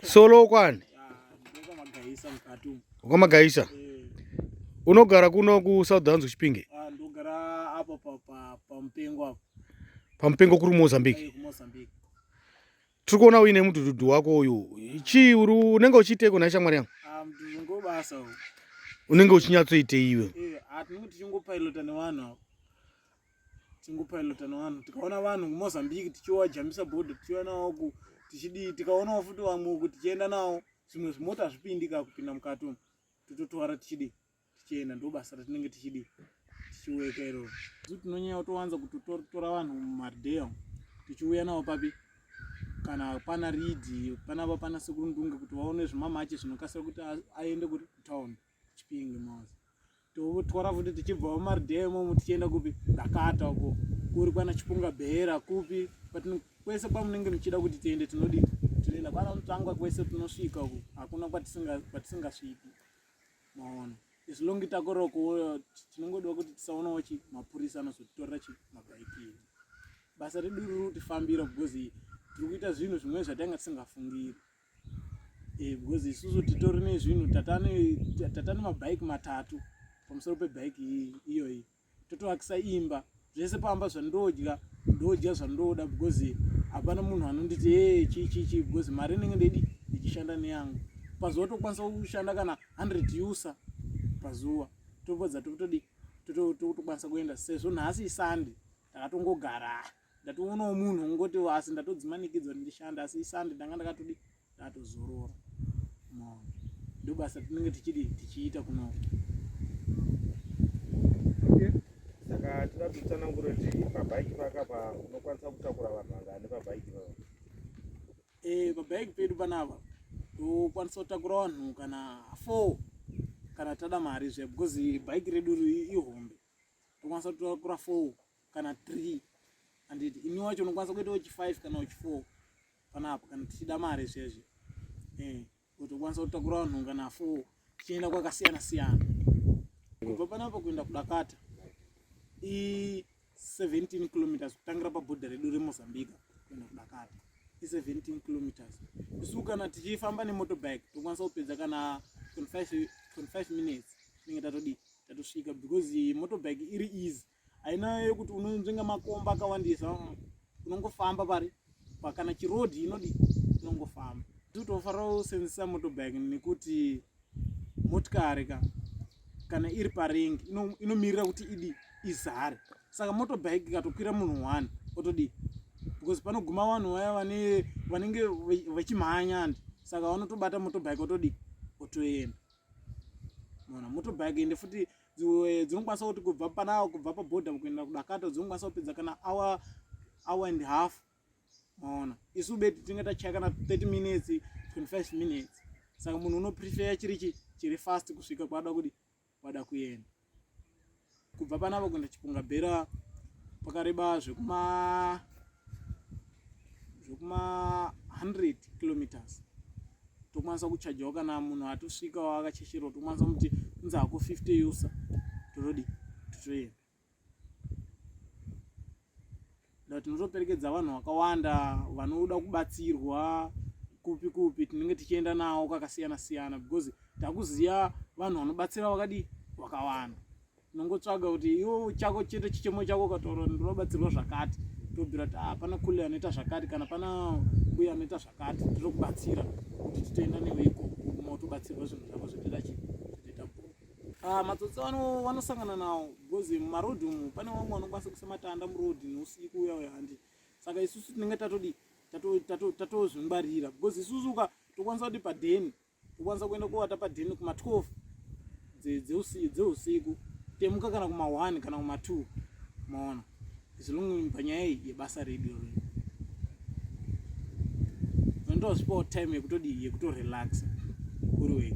solo kwani kwamagaisa eh. unogara kuno kusouthans kuchipinge ah, pamupengo kuri mumozambique eh, tiri kuona uine mudhudhudhu wako uyu chii uri unenge uchiiteko nhai shamwari yangu ah, unenge uchinyatsoitei iwe eh, tingopilota nevanhu tikaona vanhu kumozambique tichiwajambisa bodo tichiuya nawo ku tichidii tikaonawo futi vamwe uku tichienda nawo zvimwe zvimota hazvipindi ka kupinda mukati umu tototwara tichidii tichienda ndo basa ratinenge tichidii tichiweka iroro zu tinonyanya kutowanza kutotora vanhu mumardea tichiuya nawo papi kana pana ridi panapa pana sekurundunge kuti vaone zvimamache zvinokasira kuti aende kutown chipinge mose totwara futi tichibvawo maridhee imomo tichienda kupi dakata uko kuri kwana chipunga bhera kupi kwese kwamunenge muchida kuti tiende tinodii tinoenda kwana mutangwa kwese tinosvika uko hakuna kwatisingasviki maona as long takoroko tinongodiwa kuti tisaonawo chi mapurisa anozotitorera chi mabhaikini basa redu riri kutifambira because tiri kuita zvinhu zvimwe zvatanga tisingafungiri eh, because isusu titori nezvinhu tatane mabhaiki matatu pamusoro pebhaiki iyoyi totoakisa imba zvese pamba zvandodya ndodya zvandoda because hapana munhu anonditi e eh, chii chii chii because mari inenge ndidi ndichishanda neyangu pazuva tokwanisa kushanda kana 100 usa pazuva topedza totodi totokwanisa kuenda sezvo nhasi isande takatongogara ndatoonawo munhu ongoti asi ndatodzimanikidzwa kuti ndishande asi isande ndanga ndakatodi ndatozorora maona ndobasa tinenge tichidi tichiita kunoko saka tida kutsanangura kuti pabhaiki pakapa unokwanisa kutakura vanhu vangani pabhaiki papa eh, pabhaiki pedu panapa tokwanisa kutakura vanhu kana four kana tada mari zve because bhaiki redu ihombe tokwanisa kutakura four kana three anditi ini wacho unokwanisa kuita wechi five kana wechi four panapa kana tichida mari zviyazvi eh, utokwanisa kutakura vanhu kana four tichienda kwakasiyana siyana kubva panapa kuenda kudakata i 17 kilometers kutangira pabhodha redu remozambique kuenda kudakata i 17 kilometers isu kana tichifamba nemotobike tokwanisa kupedza kana 25 minutes tinenge tatodii tatosvika because motobike iri easy haina yekuti unonzvenga makomba akawandisa mm, unongofamba pari pakana chirodhi inodi unongofamba titofanira kusenzesa motobag nekuti motikari ka kana iri parengi inomirira ino kuti idi izare saka motobag ikatokwira munhu one otodii because panoguma vanhu vaya vane vanenge vachimhanya andi saka vanotobata motobike otodi otoenda mona motobike ende futi eh, dzinokwanisa kuti kubva panawo kubva paborder kuenda kudakata dzinokwanisa kupedza kana hour hour and half maona isu beti tinenge tachaya kana 30 minutes 25 minutes saka munhu unoprefeya chiri chi chiri fast kusvika kwada kuti kwada kuenda kubva panapa kuenda chipunga bhera pakareba zvekuma zvekuma 100 kilometers tokwanisa kuchajawo kana munhu atosvikawo akachecherawo tokwanisa kuti inzi hako 50 yusa totodi totoenda da tinotoperekedza vanhu vakawanda vanoda kubatsirwa kupi kupi tinenge tichienda nawo kwakasiyana siyana because takuziva vanhu vanobatsira vakadii vakawanda unongotsvaga kuti iwo chako chete chichemo chako ukataura ndinobatsirwa zvakati tobvira kuti ah, pana kule anoita zvakati kana pana uye anoita zvakati tinokubatsira kuti titoenda newe ikoko motobatsirwa zvinhu zvako zvotoita chii zvotoita bhoo ah, matsotsi vanosangana nawo because mumarod umu pane vamwe vanokwanisa kuisa matanda muroad neusiku uya uya handi saka isusu tinenge tatodi tatozvingwarira because isusu uka tokwanisa kuti padeni ukwanisa kuenda kowata padheni kuma 12 dzeusiku temuka kana kuma 1 kana kuma 2 maona zilungu panyaya iyi yebasa redu ro ndozipawo time yekutodii yekutorelaxa uri wega